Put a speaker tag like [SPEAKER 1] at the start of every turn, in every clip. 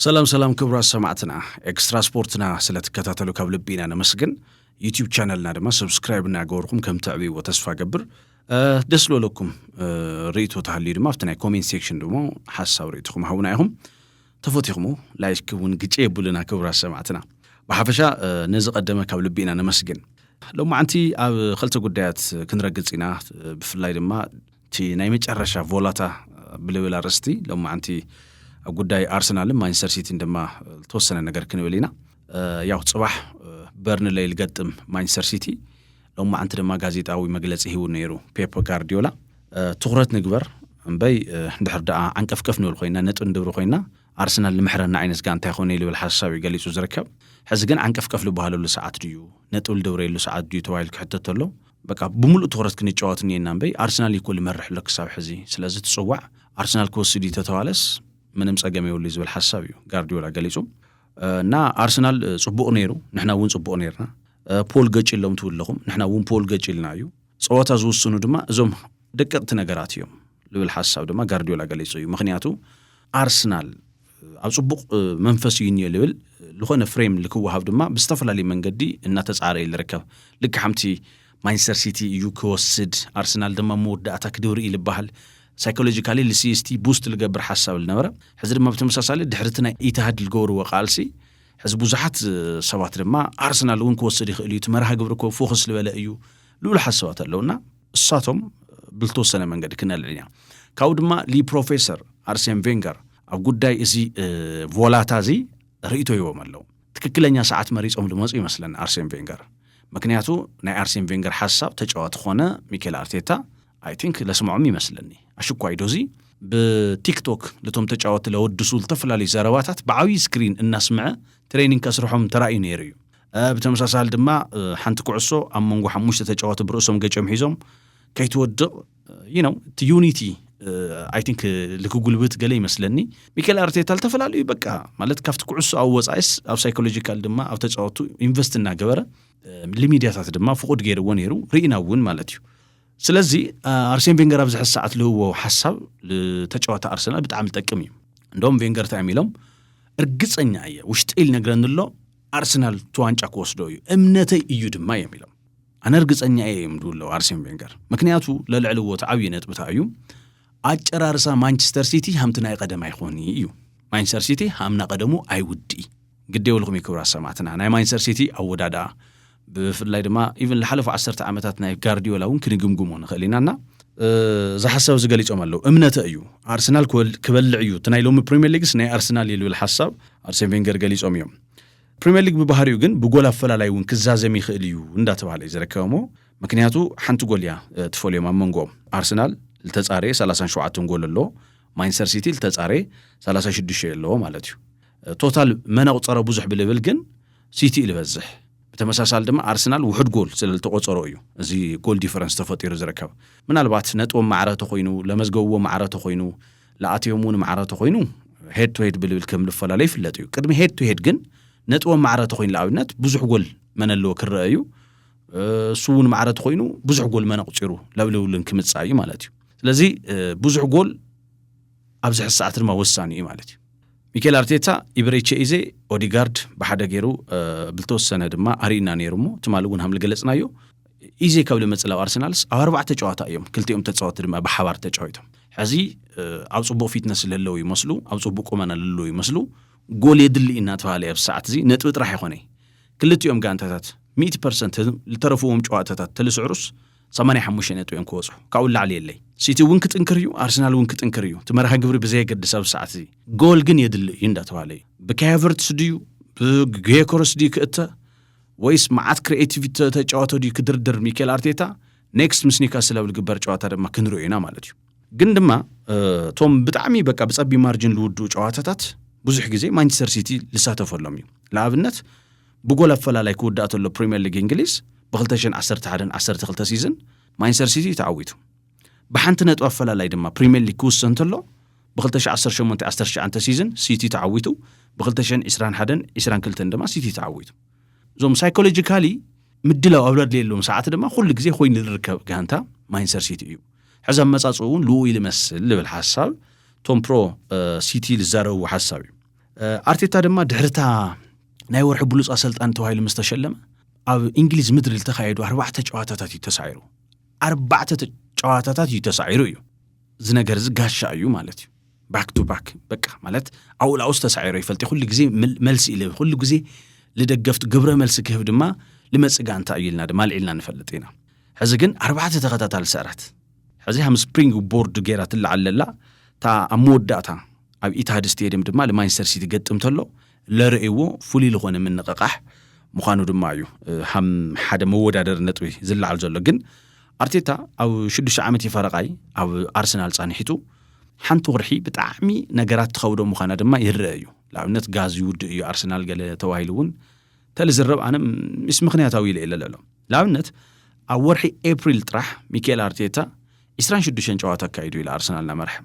[SPEAKER 1] ሰላም ሰላም ክብራት ሰማዕትና ኤክስትራ ስፖርትና ስለ ትከታተሉ ካብ ልቢ ኢና ነመስግን ዩቲብ ቻነልና ድማ ሰብስክራይብ እናገበርኩም ከም ተዕብይዎ ተስፋ ገብር ደስ ዝበለኩም ርእቶ ተሃልዩ ድማ ኣብቲ ናይ ኮሜንት ሴክሽን ድማ ሓሳብ ርእትኹም ሃቡና ኢኹም ተፈቲኹሙ ላይክ እውን ግጭ የብሉና ክብራት ሰማዕትና ብሓፈሻ ነዚ ቀደመ ካብ ልቢ ኢና ነመስግን ሎማዓንቲ ኣብ ክልተ ጉዳያት ክንረግፅ ኢና ብፍላይ ድማ እቲ ናይ መጨረሻ ቮላታ ብልብል ኣርእስቲ ሎማዓንቲ ኣብ ጉዳይ ኣርሰናልን ማንቸስተር ሲቲን ድማ ዝተወሰነ ነገር ክንብል ኢና ያው ፅባሕ በርንለይ ልገጥም ማንቸስተር ሲቲ ሎማዓንቲ ድማ ጋዜጣዊ መግለፂ ሂቡ ነይሩ ፔፕ ጋርዲዮላ ትኩረት ንግበር እምበይ እንድሕር ደኣ ዓንቀፍቀፍ ንብል ኮይና ነጥ ንድብሪ ኮይና ኣርሰናል ንምሕረና ዓይነት ጋንታ ይኮነ ልብል ሓሳብ እዩ ገሊፁ ዝርከብ ሕዚ ግን ዓንቀፍቀፍ ልበሃለሉ ሰዓት ድዩ ነጥብ ልድብረየሉ ሰዓት ድዩ ተባሂሉ ክሕተተሎ በቃ ብምሉእ ትኹረት ክንጫወት እኒኤና እምበይ ኣርሰናል ይኮል ይመርሕ ኣሎ ክሳብ ሕዚ ስለዚ ትፅዋዕ ኣርሰናል ክወስድ እዩ ተተባለስ ምንም ፀገም የብሉ ዝብል ሓሳብ እዩ ጋርዲዮላ ገሊፁ እና ኣርሰናል ፅቡቕ ነይሩ ንሕና እውን ፅቡቕ ነርና ፖል ገጭ ኢሎም ትብለኹም ንሕና እውን ፖል ገጭ ኢልና እዩ ፀወታ ዝውስኑ ድማ እዞም ደቀቕቲ ነገራት እዮም ዝብል ሓሳብ ድማ ጋርዲዮላ ገሊፁ እዩ ምክንያቱ ኣርሰናል ኣብ ጽቡቕ መንፈስ እዩ እኒኦ ልብል ዝኾነ ፍሬም ልክወሃብ ድማ ብዝተፈላለዩ መንገዲ እናተጻረ እዩ ልርከብ ልክ ሓምቲ ማንቸስተር ሲቲ እዩ ክወስድ ኣርሰናል ድማ መወዳእታ ክድብር እዩ ልበሃል ሳይኮሎጂካሊ ልሲስቲ ቡስት ልገብር ሓሳብ ልነበረ ሕዚ ድማ ብተመሳሳሊ ድሕርቲ ናይ ኢትሃድ ልገበርዎ ቃልሲ ሕዚ ብዙሓት ሰባት ድማ ኣርሰናል እውን ክወስድ ይኽእል እዩ እቲ መርሃ ግብሪ እኮ ፎክስ ልበለ እዩ ልብሉ ሓሳባት ኣለውና እሳቶም ብልተወሰነ መንገዲ ክነልዕል ኢና ካብኡ ድማ ሊ ፕሮፌሰር ኣርሴን ቬንገር ኣብ ጉዳይ እዚ ቮላታ እዚ ርእቶ ይቦም ኣለዉ ትክክለኛ ሰዓት መሪፆም ዝመፁ ይመስለኒ ኣርሴን ቬንገር ምክንያቱ ናይ ኣርሴን ቬንገር ሓሳብ ተጫዋቲ ኮነ ሚኬል ኣርቴታ ኣይ ቲንክ ለስምዖም ይመስለኒ ኣሽኳይ ዶዚ ብቲክቶክ ልቶም ተጫወቲ ለወድሱ ዝተፈላለዩ ዘረባታት ብዓብዪ ስክሪን እናስምዐ ትሬኒንግ ከስርሖም ተራእዩ ነይሩ እዩ ብተመሳሳሊ ድማ ሓንቲ ኩዕሶ ኣብ መንጎ ሓሙሽተ ተጫዋቲ ብርእሶም ገጭም ሒዞም ከይትወድቕ ይነው እቲ ዩኒቲ ኣይ ቲንክ ልክጉልብት ገለ ይመስለኒ ሚካኤል ኣርቴታ ዝተፈላለዩ በቃ ማለት ካብቲ ኩዕሶ ኣብ ወፃኢስ ኣብ ሳይኮሎጂካል ድማ ኣብ ተፃወቱ ኢንቨስት እናገበረ ልሚድያታት ድማ ፍቁድ ገይርዎ ነይሩ ርኢና እውን ማለት እዩ ስለዚ ኣርሴን ቬንገር ኣብዚ ሕዚ ሰዓት ልህዎ ሓሳብ ተጫዋታ ኣርሰናል ብጣዕሚ ዝጠቅም እዩ እንደም ቬንገር እንታይ እዮም ኢሎም እርግፀኛ እየ ውሽጢ ኢል ነግረኒ ኣሎ ኣርሰናል እቲ ዋንጫ ክወስዶ እዩ እምነተይ እዩ ድማ እዮም ኢሎም ኣነ እርግፀኛ እየ እዮም ድብለው ኣርሴን ቬንገር ምክንያቱ ለልዕሊ ወት ዓብዪ ነጥብታ እዩ ኣጨራርሳ ማንቸስተር ሲቲ ሃምቲ ናይ ቀደም ኣይኮኒ እዩ ማንቸስተር ሲቲ ሃምና ቀደሙ ኣይውድኢ ግዴ ውልኹም ክብራ ሰማትና ናይ ማንቸስተር ሲቲ ኣወዳድኣ ብፍላይ ድማ ኢቭን ዝሓለፉ ዓሰርተ ዓመታት ናይ ጋርዲዮላ እውን ክንግምግሞ ንኽእል ኢና እና እዚ ሓሳብ እዚ ገሊፆም ኣለዉ እምነተ እዩ ኣርሰናል ክበልዕ እዩ እቲ ናይ ሎሚ ፕሪምየር ሊግስ ናይ ኣርሰናል እዩ ዝብል ሓሳብ ኣርሴን ቬንገር ገሊፆም እዮም ፕሪምየር ሊግ ብባህሪኡ ግን ብጎል ኣፈላላይ እውን ክዛዘም ይኽእል እዩ እንዳተባሃለ እዩ ዝረከበሞ ምክንያቱ ሓንቲ ጎል እያ ትፈልዮም ኣብ መንጎኦም ኣርሰናል ዝተፃረ 37 ጎል ኣሎ ማንቸስተር ሲቲ ዝተፃረ 36 ኣለዎ ማለት እዩ ቶታል መን ኣቁፀረ ብዙሕ ብልብል ግን ሲቲ ኢዩ ዝበዝሕ። ብተመሳሳሊ ድማ ኣርሰናል ውሑድ ጎል ስለልተቖጸሮ ኢዩ እዚ ጎል ዲፈረንስ ተፈጢሩ ዝርከብ። ምናልባት ነጥቦም ማዕረ ተኾይኑ፣ ለመዝገብዎ ማዕረ ተኾይኑ፣ ለኣትዮም እውን ማዕረ ተኾይኑ ሄድ ቱ ሄድ ብልብል ከም ልፈላለዩ ይፍለጥ ኢዩ። ቅድሚ ሄድ ቱ ሄድ ግን ነጥቦም ማዕረ ተኾይኑ ልኣብነት ብዙሕ ጎል መን ኣለዎ ክረኣ ኢዩ። እሱ እውን ማዕረ ተኾይኑ ብዙሕ ጎል መን ኣቑጺሩ ለብልብሉን ክምጻእ ኢዩ ማለት ኢዩ። ስለዚ ብዙሕ ጎል ኣብዚ ሕዚ ሰዓት ድማ ወሳኒ እዩ ማለት እዩ። ሚኬል ኣርቴታ ኢብሬቼ ኢዜ ኦዲጋርድ ብሓደ ገይሩ ብልተወሰነ ድማ ኣርኢና ነይሩ እሞ ትማሊ እውን ሃም ልገለጽናዮ ኢዜ ካብ ልመጽእ ላብ ኣርሰናልስ ኣብ ኣርባዕተ ጨዋታ እዮም ክልቲኦም ተጻወቲ ድማ ብሓባር ተጫዊቶም ሕዚ ኣብ ጽቡቅ ፊትነስ ስለለዉ ይመስሉ ኣብ ጽቡቅ ቁመና ልለዉ ይመስሉ ጎል የድሊ እናተባሃለ ኣብ ሰዓት እዚ ነጥቢ ጥራሕ ይኾነይ ክልቲኦም ጋንታታት ሚእቲ ፐርሰንት ዝተረፍዎም ጨዋታታት ተልስዕሩስ ጸማ ናይ ሓሙሽተ ነጥቢ እዮም ክወጹ ካብኡ ንላዕሊ የለይ ሲቲ እውን ክጥንክር እዩ ኣርሰናል እውን ክጥንክር እዩ እቲ መርሃ ግብሪ ብዘየገድስ ኣብዚ ሰዓት እዚ ጎል ግን የድሊ እዩ እንዳተባሃለ እዩ ብካያቨርትስ ድዩ ብጌኮረስ ድዩ ክእተ ወይስ መዓት ክሪኤቲቪቲ ተጫዋቶ ድዩ ክድርድር ሚካኤል ኣርቴታ ኔክስት ምስ ኒውካስል ኣብ ዝግበር ጨዋታ ድማ ክንሪኦ ኢና ማለት እዩ ግን ድማ እቶም ብጣዕሚ በቃ ብጸቢ ማርጅን ዝውድኡ ጨዋታታት ብዙሕ ግዜ ማንቸስተር ሲቲ ዝሳተፈሎም እዩ ንኣብነት ብጎል ኣፈላላይ ክውዳእ ተሎ ፕሪምየር ሊግ እንግሊዝ ብክልተ ሽሕን ዓሰርተ ሓደን ዓሰርተ ክልተ ሲዝን ማንችስተር ሲቲ እዩ ተዓዊቱ። ብሓንቲ ነጥቢ ኣፈላላይ ድማ ፕሪምየር ሊግ ክውሰን ተሎ ብክልተ ሽሕ ዓሰርተ ሸሞንተ ዓሰርተ ትሽዓንተ ሲዝን ሲቲ ተዓዊቱ ብክልተ ሽሕን ዕስራን ሓደን ዕስራን ክልተን ድማ ሲቲ ተዓዊቱ። እዞም ሳይኮሎጂካሊ ምድላው ኣብ ዘድልየሎም ሰዓት ድማ ኩሉ ግዜ ኮይኑ ዝርከብ ጋንታ ማንችስተር ሲቲ እዩ። ሕዚ ኣመጻጽኡ እውን ልኡ ኢሉ ይመስል ዝብል ሓሳብ ቶም ፕሮ ሲቲ ዝዛረብዎ ሓሳብ እዩ። ኣርቴታ ድማ ድሕርታ ናይ ወርሒ ብሉፅ ኣሰልጣኒ ተባሂሉ ምስ ተሸለመ ኣብ እንግሊዝ ምድሪ ዝተኻየዱ ኣርባዕተ ጨዋታታት እዩ ተሳዒሩ ኣርባዕተ ጨዋታታት እዩ ተሳዒሩ እዩ እዚ ነገር እዚ ጋሻ እዩ ማለት እዩ ባክ ቱ ባክ በቃ ማለት ኣብኡ ላውስ ተሳዒሮ ይፈልጥ ኩሉ ግዜ መልሲ ኢለ ኩሉ ግዜ ልደገፍቲ ግብረ መልሲ ክህብ ድማ ልመፅእ ጋንታ እዩ ኢልና ድማ ኣልዒልና ንፈልጥ ኢና ሕዚ ግን ኣርባዕተ ተኸታታሊ ስዕራት ሕዚ ሃም ስፕሪንግ ቦርድ ገይራ ትለዓል ለላ እታ ኣብ መወዳእታ ኣብ ኢትሃድ ስቴድየም ድማ ልማንስተር ሲቲ ገጥም ተሎ ለርእዎ ፍሉይ ልኾነ ምንቕቓሕ ምዃኑ ድማ እዩ ሃም ሓደ መወዳደሪ ነጥቢ ዝለዓል ዘሎ ግን ኣርቴታ ኣብ ሽዱሽተ ዓመት ይፈረቓይ ኣብ ኣርሰናል ጻንሒቱ ሓንቲ ወርሒ ብጣዕሚ ነገራት ትኸብዶ ምዃና ድማ ይረአ እዩ ንኣብነት ጋዝ ይውድእ እዩ ኣርሰናል ገለ ተባሂሉ እውን ተልዝረብ ኣነ ምስ ምክንያታዊ ኢለ ኢለ ለሎ ንኣብነት ኣብ ወርሒ ኤፕሪል ጥራሕ ሚካኤል ኣርቴታ 26 ጨዋታ ኣካይዱ ኢለ ኣርሰናል ናመርሐ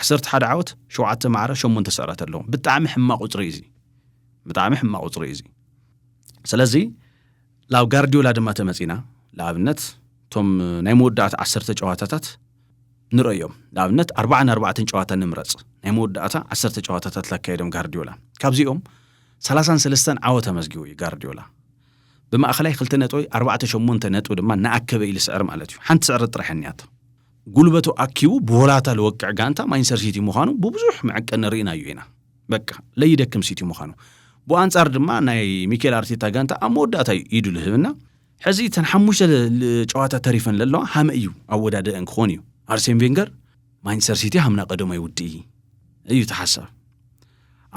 [SPEAKER 1] 11 ዓወት ሸውዓተ ማዕረ ሸሞንተ ስዕረት ኣለዎ ብጣዕሚ ሕማቅ ቁፅሪ እዩ እዚ ብጣዕሚ ሕማቅ ቁፅሪ እዩ እዚ ስለዚ ላብ ጋርዲዮላ ድማ ተመፂና ንኣብነት እቶም ናይ መወዳእታ ዓሰርተ ጨዋታታት ንርእዮም። ንኣብነት ኣርባዓ ንኣርባዕተን ጨዋታ ንምረጽ። ናይ መወዳእታ ዓሰርተ ጨዋታታት ላካየዶም ጋርዲዮላ። ካብዚኦም ሰላሳን ሰለስተን ዓወት ኣመዝጊቡ እዩ ጋርዲዮላ። ብማእኸላይ ክልተ ነጥቢ ኣርባዕተ ሸሞንተ ነጥቢ ድማ ንኣከበ ኢሉ ስዕር ማለት እዩ። ሓንቲ ስዕረት ጥራሕ እኒያቶ። ጉልበቱ ኣኪቡ ብወላታ ልወቅዕ ጋንታ ማንቸስተር ሲቲ ምዃኑ ብብዙሕ መዕቀኒ ርኢናዮ ኢና። በቃ ለይደክም ሲቲ ምዃኑ። ብኣንጻር ድማ ናይ ሚኬል ኣርቴታ ጋንታ ኣብ መወዳእታ እዩ ኢዱ ልህብና። ሕዚ እተን ሓሙሽተ ጨዋታ ተሪፈን ለለዋ ሃመ እዩ ኣወዳደአን ክኾን እዩ ኣርሴን ቬንገር ማንቸስተር ሲቲ ሃምና ቀደማይ ውድኢ እዩ ተሓሳብ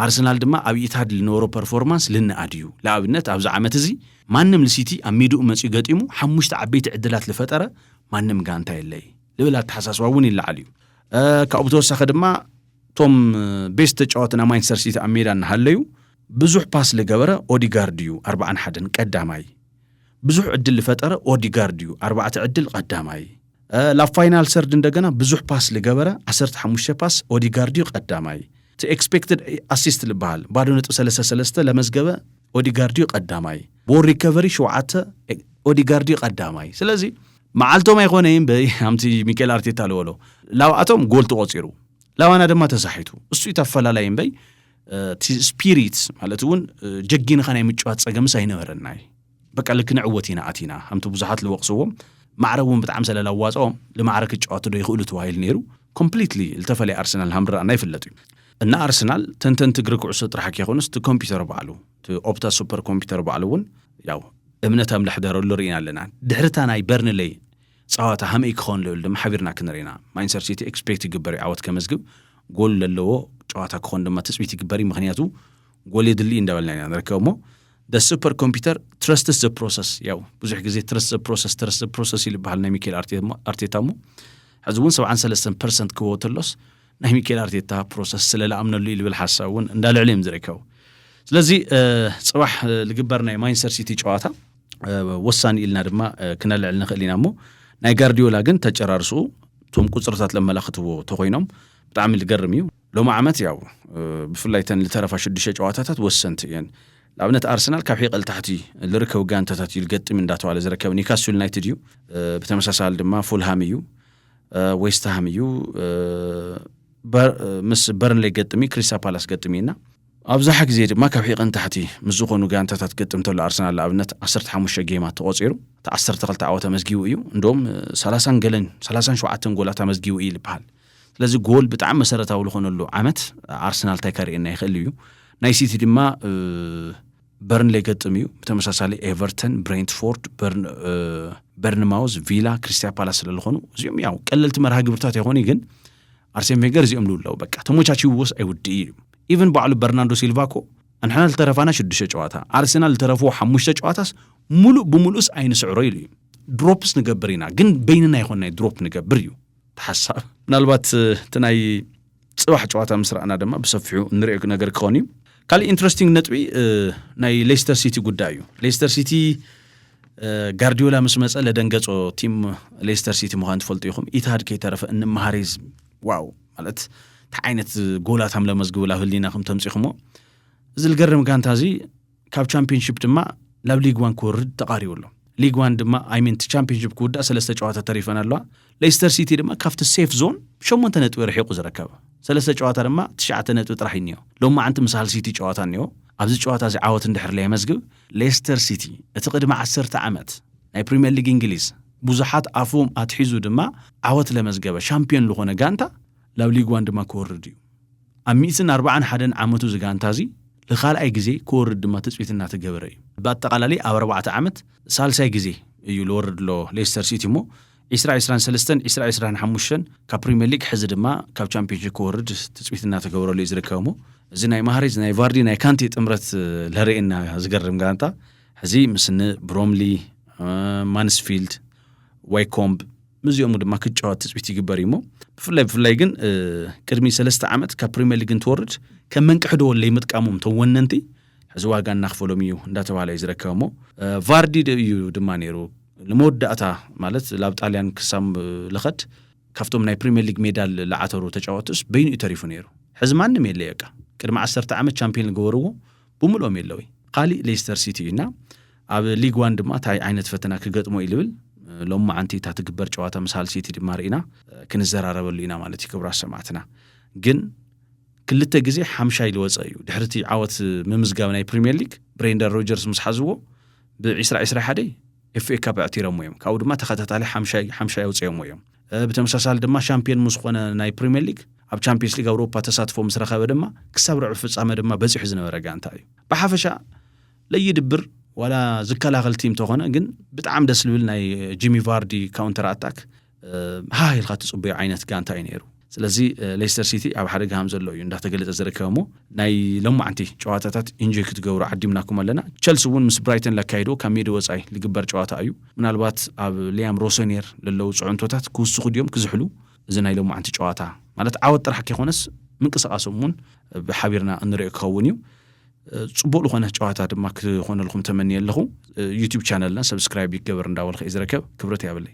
[SPEAKER 1] ኣርሰናል ድማ ኣብ ኢታድ ልነበሮ ፐርፎርማንስ ልንኣድ እዩ ንኣብነት ኣብዚ ዓመት እዚ ማንም ልሲቲ ኣብ ሜድኡ መፅኡ ገጢሙ ሓሙሽተ ዓበይቲ ዕድላት ልፈጠረ ማንም ጋንታ የለይ ልብል ኣተሓሳስባ እውን ይለዓል እዩ ካብኡ ብተወሳኺ ድማ እቶም ቤስት ተጫወትና ማንቸስተር ሲቲ ኣብ ሜዳ እናሃለዩ ብዙሕ ፓስ ልገበረ ኦዲጋርድ'ዩ፣ ኣርብዓን ሓደን፣ ቀዳማይ። ብዙሕ ዕድል ልፈጠረ ኦዲጋርድ'ዩ፣ ኣርባዕተ ዕድል፣ ቐዳማይ። ላብ ፋይናል ሰርድ እንደገና ብዙሕ ፓስ ልገበረ፣ ዓሰርተ ሓሙሽተ ፓስ፣ ኦዲጋርድ'ዩ፣ ቀዳማይ። እቲ ኤክስፔክትድ ኣሲስት ልበሃል፣ ባዶ ነጥቢ ሰለስተ ሰለስተ፣ ለመዝገበ ኦዲጋርድ'ዩ፣ ቀዳማይ። ቦል ሪከቨሪ ሸውዓተ፣ ኦዲጋርድ'ዩ፣ ቀዳማይ። ስለዚ መዓልቶም ኣይኮነይን በይ ኣምቲ ሚኬል ኣርቴታ ልበሎ፣ ላብኣቶም ጎል ተቖጺሩ፣ ላባና ድማ ተሳሒቱ። እሱ'ዩ እቲ ኣፈላላይ'ምበይ እቲ ስፒሪት ማለት እውን ጀጊንኻ ናይ ምጭዋት ጸገምስ ኣይነበረናይ በቃ ልክ ንዕወት ኢና ኣቲና ከምቲ ብዙሓት ዝወቕስዎም ማዕረ እውን ብጣዕሚ ስለላዋፅኦም ልማዕረ ክጫወቱ ዶ ይኽእሉ ተባሂሉ ነይሩ ኮምፕሊትሊ ዝተፈለየ ኣርሰናል ሃምድራና ይፍለጥ እዩ እና ኣርሰናል ተንተንቲ እግሪ ኩዕሶ ጥራሕ ከይኮኑስ እቲ ኮምፒውተር ባዕሉ እቲ ኦፕታ ሱፐር ኮምፒውተር ባዕሉ እውን ያው እምነት ኣምላሕ ደረሉ ርኢና ኣለና ድሕርታ ናይ በርንለይ ጸዋታ ሃመይ ክኸውን ልብል ድማ ሓቢርና ክንርኢ ኢና። ማንቸስተር ሲቲ ኤክስፔክት ይግበር እዩ ዓወት ከመዝግብ፣ ጎል ለለዎ ጨዋታ ክኾን ድማ ትጽቢት ይግበር እዩ፣ ምክንያቱ ጎል የድሊ እዩ እንዳበልና ኢና ንርከብ እሞ ደ ሱፐር ኮምፒተር ትረስትስ ዘ ፕሮሰስ ያው ብዙሕ ግዜ ትረስት ዘ ፕሮሰስ ትረስት ዘ ፕሮሰስ ኢሉ ይበሃል ናይ ሚካኤል ኣርቴታ እሞ ሕዚ እውን ሰብዓን ሰለስተን ፐርሰንት ክበዎ ተሎስ ናይ ሚካኤል ኣርቴታ ፕሮሰስ ስለ ዝኣምነሉ እዩ ዝብል ሓሳብ እውን እንዳልዕሉ እዮም ዝርከቡ ስለዚ ፅባሕ ዝግበር ናይ ማንቸስተር ሲቲ ጨዋታ ወሳኒ ኢልና ድማ ክነልዕል ንኽእል ኢና እሞ ናይ ጋርዲዮላ ግን ተጨራርስኡ እቶም ቁፅርታት ለመላኽትዎ ተኾይኖም ብጣዕሚ ዝገርም እዩ ሎሚ ዓመት ያው ብፍላይ ተን ዝተረፋ ሽዱሽተ ጨዋታታት ወሰንቲ እየን ንኣብነት ኣርሰናል ካብ ሒቐል ታሕቲ ዝርከቡ ጋንታታት እዩ ዝገጥም እንዳተባለ ዝረከብ ኒውካስል ዩናይትድ እዩ ብተመሳሳሊ ድማ ፉልሃም እዩ ዌስትሃም እዩ ምስ በርንሌ ገጥሚ ክሪስታ ፓላስ ገጥሚ እና ኣብዝሓ ግዜ ድማ ካብ ሒቕን ታሕቲ ምስ ዝኾኑ ጋንታታት ክገጥም ተሎ ኣርሰናል ንኣብነት ዓሰርተ ሓሙሽተ ጌማት ተቖጺሩ እቲ ዓሰርተ ክልተ ዓወት ኣመዝጊቡ እዩ እንደውም ሰላሳን ገለን ሰላሳን ሸውዓተን ጎላት ኣመዝጊቡ እዩ ዝበሃል ስለዚ ጎል ብጣዕሚ መሰረታዊ ዝኾነሉ ዓመት ኣርሰናል እንታይ ከርእየና ይኽእል እዩ ናይ ሲቲ ድማ በርንሌ ገጥም እዩ ብተመሳሳሊ ኤቨርተን ብሬንትፎርድ በርንማውዝ ቪላ ክሪስታ ፓላስ ስለዝኾኑ እዚኦም ያው ቀለልቲ መርሃ ግብርታት ኣይኾኑ ግን ኣርሴን ቬንገር እዚኦም ልብሉ ኣለው በቃ ተሞቻቺውዎስ ኣይውድእ እዩ ኢቨን ባዕሉ በርናንዶ ሲልቫ እኮ ኣንሕና ልተረፋና ሽዱሽተ ጨዋታ ኣርሴናል ልተረፍዎ ሓሙሽተ ጨዋታስ ሙሉእ ብሙሉእስ ኣይንስዕሮ ኢሉ እዩ ድሮፕስ ንገብር ኢና ግን በይንና ይኾንናይ ድሮፕ ንገብር እዩ ተሓሳብ ምናልባት እቲ ናይ ፅባሕ ጨዋታ ምስ ረኣና ድማ ብሰፊሑ እንሪኦ ነገር ክኾን እዩ ካሊእ ኢንትረስቲንግ ነጥቢ ናይ ሌስተር ሲቲ ጉዳይ እዩ ሌስተር ሲቲ ጋርዲዮላ ምስ መፀ ለደንገፆ ቲም ሌስተር ሲቲ ምዃን ትፈልጡ ኢኹም ኢትሃድ ከይተረፈ እንመሃሬዝ ዋው ማለት እንታይ ዓይነት ጎላት ኣም ለመዝግቡ ላብ ህሊና ከም ተምፂኹሞ እዚ ልገርም ጋንታ እዚ ካብ ቻምፒንሽፕ ድማ ላብ ሊግ ዋን ክወርድ ተቃሪቡ ኣሎ ሊግ ዋን ድማ ኣይሚን ቻምፒንሽፕ ክውዳእ ሰለስተ ጨዋታ ተሪፈን ኣለዋ ሌስተር ሲቲ ድማ ካብቲ ሴፍ ዞን ብሸሞንተ ነጥቢ ርሒቑ ዝርከብ ሰለስተ ጨዋታ ድማ ትሽዓተ ነጥቢ ጥራሕ እዩ እኒኦ። ሎማዕንቲ ምስ ሃል ሲቲ ጨዋታ እኒኦ። ኣብዚ ጨዋታ እዚ ዓወት እንድሕር ለየመዝግብ ሌስተር ሲቲ እቲ ቅድሚ ዓሰርተ ዓመት ናይ ፕሪምየር ሊግ እንግሊዝ ብዙሓት ኣፎም ኣትሒዙ ድማ ዓወት ለመዝገበ ሻምፕዮን ልኾነ ጋንታ ላብ ሊግ ዋን ድማ ክወርድ እዩ። ኣብ ሚእትን ኣርብዓን ሓደን ዓመቱ እዚ ጋንታ እዚ ልኻልኣይ ግዜ ክወርድ ድማ ትፅቢት እናተገበረ እዩ። ብኣጠቓላሊ ኣብ ኣርባዕተ ዓመት ሳልሳይ ግዜ እዩ ልወርድ ሎ ሌስተር ሲቲ እሞ ዒስራ ዒስራን ሰለስተን ዒስራ ዒስራን ሓሙሽተን ካብ ፕሪምየር ሊግ ሕዚ ድማ ካብ ቻምፒዮንስ ሊግ ክወርድ ትፅቢት እናተገብረሉ እዩ ዝርከብ እሞ እዚ ናይ ማህሬዝ ናይ ቫርዲ ናይ ካንቴ ጥምረት ለርእየና ዝገርም ጋንታ ሕዚ ምስኒ ብሮምሊ ማንስፊልድ ዋይኮምብ ምስዚኦሙ ድማ ክጫወት ትፅቢት ይግበር እዩሞ ብፍላይ ብፍላይ ግን ቅድሚ ሰለስተ ዓመት ካብ ፕሪምየር ሊግ እንትወርድ ከም መንቅሕዶ ለይምጥቃሞም ተወነንቲ ሕዚ ዋጋ እናኽፈሎም እዩ እንዳተባህለ እዩ ዝረከብ እሞ ቫርዲ እዩ ድማ ነይሩ ንመወዳእታ ማለት ላብ ጣልያን ክሳብ ልኸድ ካብቶም ናይ ፕሪምየር ሊግ ሜዳል ልዓተሩ ተጫወትስ በይኑ እዩ ተሪፉ ነይሩ ሕዚ ማንም የለ በቃ ቅድሚ ዓሰርተ ዓመት ቻምፒዮን ገበርዎ ብምልኦም የለውይ ካሊእ ሌስተር ሲቲ እዩና ኣብ ሊግ ዋን ድማ እንታይ ዓይነት ፈተና ክገጥሞ እዩ ልብል ሎም መዓንቲ እታ ትግበር ጨዋታ ምስ ሃል ሲቲ ድማ ርኢና ክንዘራረበሉ ኢና ማለት እዩ ክብራት ሰማዕትና ግን ክልተ ግዜ ሓምሻይ ዝወጸ እዩ። ድሕሪ እቲ ዓወት ምምዝጋብ ናይ ፕሪምየር ሊግ ብሬንዳን ሮጀርስ ምስ ሓዝዎ ብ ዕስራ ዕስራ ሓደ ኤፍኤ ካፕ ኣዕቲረሞ እዮም። ካብኡ ድማ ተኸታታሊ ሓምሻይ ሓምሻይ ኣውጺኦሞ እዮም። ብተመሳሳሊ ድማ ሻምፕዮን ምስ ኾነ ናይ ፕሪምየር ሊግ ኣብ ቻምፕዮንስ ሊግ ኣውሮፓ ተሳትፎ ምስ ረኸበ ድማ ክሳብ ርዕብ ፍጻመ ድማ በጺሑ ዝነበረ ጋንታ እዩ። ብሓፈሻ ለይድብር ዋላ ዝከላኸል ቲም ተኾነ ግን ብጣዕሚ ደስ ዝብል ናይ ጂሚ ቫርዲ ካውንተር ኣታክ ሃህ ኢልካ ትፅበዮ ዓይነት ጋንታ እዩ ነይሩ ስለዚ ሌስተር ሲቲ ኣብ ሓደጋ ሃም ዘሎ እዩ እንዳተገለፀ ዝርከብ እሞ ናይ ሎማዓንቲ ጨዋታታት ኢንጆይ ክትገብሩ ዓዲምናኩም ኣለና ቸልሲ እውን ምስ ብራይተን ለካይድዎ ካብ ሜዲ ወፃኢ ልግበር ጨዋታ እዩ ምናልባት ኣብ ሊያም ሮሶኔር ለለዉ ፅዕንቶታት ክውስኹ ድዮም ክዝሕሉ እዚ ናይ ሎማዓንቲ ጨዋታ ማለት ዓወት ጥራሕ ከይኮነስ ምንቅስቃሶም እውን ብሓቢርና እንሪኦ ክኸውን እዩ ፅቡቅ ዝኾነ ጨዋታ ድማ ክኾነልኩም ተመንየ ኣለኹ ዩቲብ ቻነልና ሰብስክራይብ ይገበር እንዳበልኸ እዩ ዝርከብ ክብረት ያብለይ